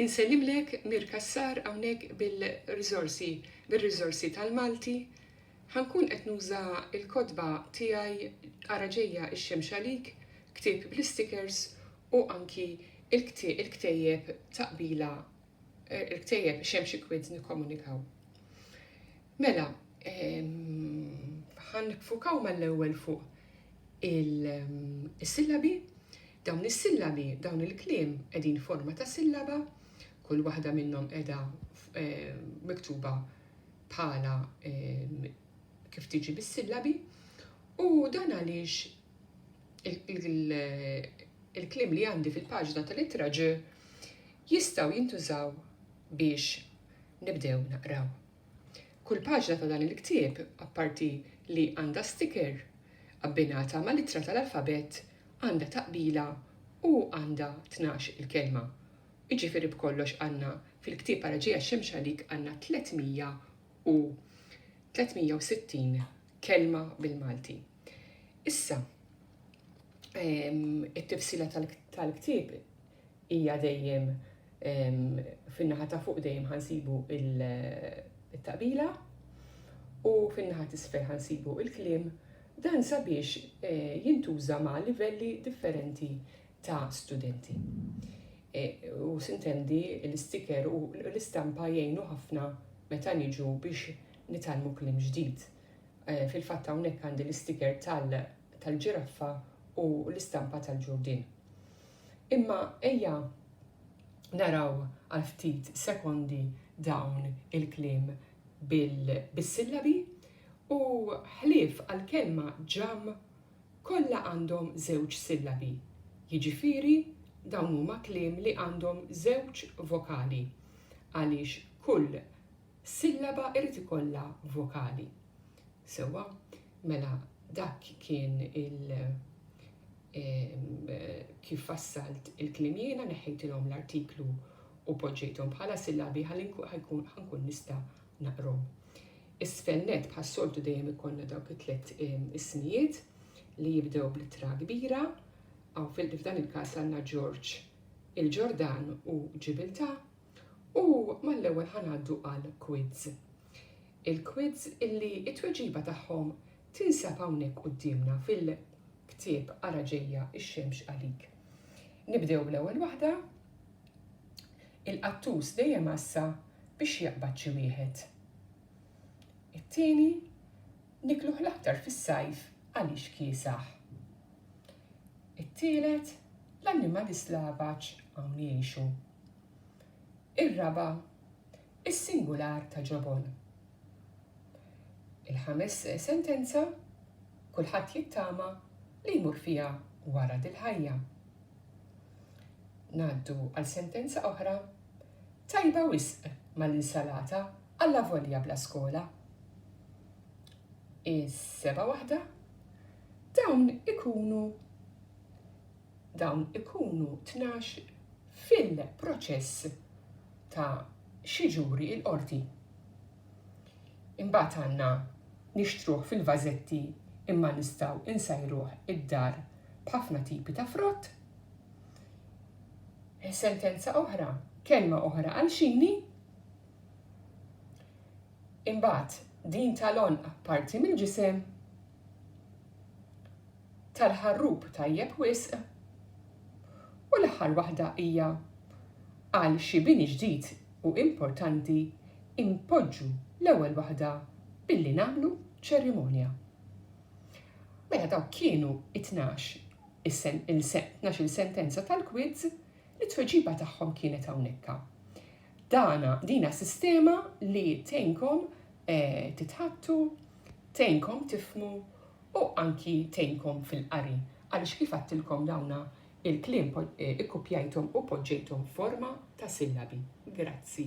Insellimlek Mir Cassar hawnhekk bil-riżorsi bir-riżorsi tal-Malti. Ħa nkun qed nuża l-kotba tiegħi Ara Ġejja x-Xemx Għalik, ktieb bl-istikers u anki l-kti il-ktejjeb ta' qbila eh, il-ktejjeb biex hemm xi kwiet nikkomunikaw. Mela, ħan nifukaw mal-ewwel fuq il-sillabi, dawn is-sillabi, dawn il-kliem qegħdin forma ta' sillaba, kull waħda minnhom qiegħda eh, miktuba bħala eh, kif tiġi bis-sillabi, u dan għaliex il-kliem li għandi fil-paġna tal-ittra ġi Jistgħu jintużaw biex nibdew naqraw. Kull paġna ta' dan il-ktieb, apparti li għandha sticker, abbinata ma' littra tal-alfabett, għandha taqbila u għandha tnax il-kelma. Jiġifieri b'kollox għandna fil-ktieb Ara Ġejja x-Xemx Għalik għandna 300 u 360 kelma bil-Malti. Issa, it-tifsila tal-ktieb hija dejjem fin-naħa ta' fuq dejjem ħa nsibu it-taqbila u fin-naħa t'isfel ħa nsibu l-kliem, dan sabiex jintuża ma' livelli differenti ta' studenti. U sintendi l-istiker u l-istampa jgħinu ħafna meta niġu biex nitgħallmu kliem ġdid. Fil-fatt hawnhekk għandi l-istiker tal-ġiraffa u l-istampa tal-ġurdien. Imma ejja naraw għal ftit sekondi dawn il-kliem bis-sillabi, u ħlief għall-kelma ġamm kollha għandhom żewġ sillabi, jiġifieri dawn huma kliem li għandhom żewġ vokali għaliex kull Sillaba irid ikollha vokali. Sewwa, mela dak kien il kif fassalt il-kliem jiena, neħħejtilhom l-artiklu u poġġejthom bħala sillabi ħalli ħankun nista' naqrhom. Isfel nett bħas-soltu dejjem ikollna dawk it-tliet ismijiet li jibdew bl-ittra kbira, hawn f'dan il-każ għandna Ġorġ, il-Ġordan u Ġibiltà, U mal-ewwel ħa ngħaddu għal quids. Il-quids illi t-tweġiba tagħhom tinsab hawnhekk quddiemna fil-ktieb Ara Ġejja x-Xemx Għalik. Nibdew bl-ewwel waħda, Il-qattus dejjem għassa biex jaqbad xi wieħed. It-tieni, Nikluh l-aktar fis-sajf għaliex kiesaħ. It-tielet, l-annimali slavaġ hawn jgħixu. Ir-raba', is-singular ta' ġobon. Il-ħames sentenza, kulħadd jittama li jmur fiha wara dil-ħajja. Ngħaddu għal sentenza oħra, tajba wisq mal-insalata Allavolja bla skola, is-sebgħa waħda, dawn ikunu dawn ikunu tnax fil-proċess ta' xi ġuri l-qorti. Imbagħad għandna nixtruh fil-vażetti imma nistgħu insajruh id-dar b'ħafna tipi ta' frott. Sentenza oħra, kelma oħra għal xini, Imbagħad, din tal-għonq parti mill-ġisem tal-ħarrub tajjeb wisq u l-aħħar waħda hija għal xi bini ġdid u importanti inpoġġu l-ewwel waħda billi nagħmlu ċerimonja. Mela dawk kienu it-tnax il-sentenza tal-quiz li t-tweġiba tagħhom kienet hawnhekk. Dana, dina sistema li tgħinkom titħaddtu, tgħinkom tifhmu u anki tgħinkom fil-qari għaliex kif għadtilkom dawna il-kliem ikkupjajthom u poġġejthom f'forma ta' sillabi. Grazzi.